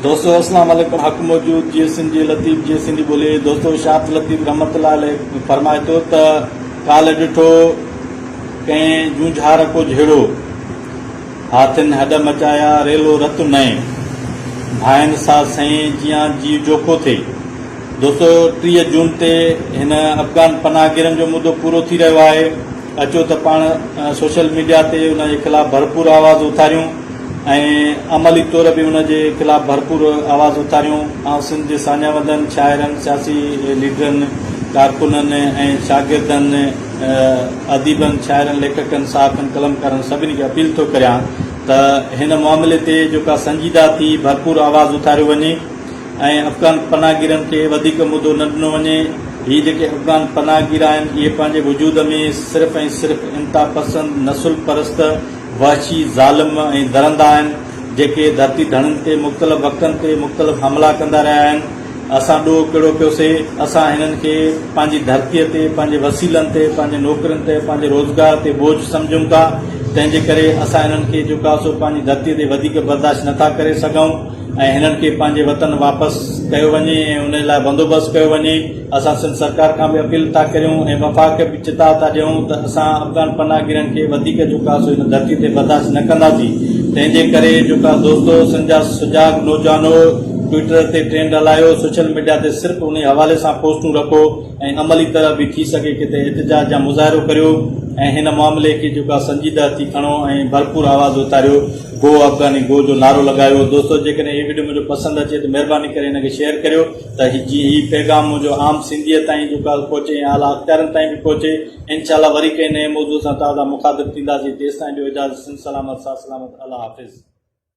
دوستو اسلام عليڪم حق موجود جي سنڌي لطيف جي سنڌي ٻولي دوستو شاهد لطيف رحمت الله عليه فرمائي ٿو ته ڪالهه ڏٺو ڪنهن جونجهار ڪو جهيڙو هاٿين هڏ مچايا ريلو رت نئين ڀائن سا سئين جيان جي جوکو ٿي دوستو ٽيهه جون تي هن افغان پناهگيرن جو مدو پورو ٿي رهيو آهي اچو ته پاڻ سوشل ميڊيا تي ان جي خلاف ڀرپور آواز اٿاريون ۽ عملي طور به ان جي خلاف ڀرپور آواز اٿاريون آئون سنڌ جي ساڃاهوندڙن شاعرن سياسي ليڊرن ڪارڪنن ۽ شاگردن اديبن شاعرن ليکڪن صحافين قلمڪارن سڀني کي اپيل ٿو ڪريان ته هن معاملي تي جيڪا سنجيده ٿي ڀرپور آواز اٿاريو وڃي ۽ افغان پناهگيرن کي وڌيڪ مدو نه ڏنو وڃي، هي جيڪي افغان پناهگير آهن اهي پنهنجي وجود ۾ صرف ۽ صرف انتها پسند، نسل پرست، وحشي، ظالم ۽ درندا آهن جيڪي ڌرتي ڌڻين تي مختلف وقتن تي مختلف حملا ڪندا رهيا آهن، اسان ڏوهه ڪهڙو ڪيو سي، اسان هنن کي پنهنجي ڌرتي تي پنهنجي وسيلن تي پنهنجي نوڪرين تي پنهنجي روزگار تي بوجھ سمجهون ٿا تنهنجي ڪري اسان هنن کي جيڪو آهي سو پنهنجي ڌرتي تي وڌيڪ برداشت نه ٿا ڪري سگهون. ۽ هنن کي پنهنجي وطن واپس ڪيو وڃي ۽ انهي لاء بندوبست ڪيو وڃي اسان سنڌ سرڪار کان به اپيل ٿا ڪريون ۽ وفاق کي به چتاء ٿا ڏيون ته اسان افغان پناهگيرن کي وڌيڪ جو ڪا سو هن ڌرتي تي برداشت نه ڪنداسين تنهن جي ڪري جو ڪا دوستو سنڌ جا سجاڳ نوجوانو ٽوئيٽر تي ٽرينڊ هلايو سوشل ميڊيا تي صرف انهي حوالي سان پوسٽون رکو ۽ عملي طرح به ٿي سگهي ڪٿي احتجاج يا مظاهرو ڪريو ۽ هن معاملي کي جيڪو آهي سنجيده ٿي کڻو ۽ ڀرپور آواز اٿاريو گو افغاني گو جو نعرو لڳايو دوستو جيڪڏهن هي وڊيو منهنجو پسند اچي ته مهرباني ڪري هن کي شيئر ڪريو ته جيئن هي پيغام منهنجو عام سنڌيء تائين جيڪو آهي پهچي ۽ اعليٰ اختيارن تائين به پهچي انشاء الله وري ڪنهن نئين موضوع سان توهان سان مخاطب ٿينداسين تيستائين ڏيو اجازت سنڌ سلامت ساٿ سلامت الله حافظ.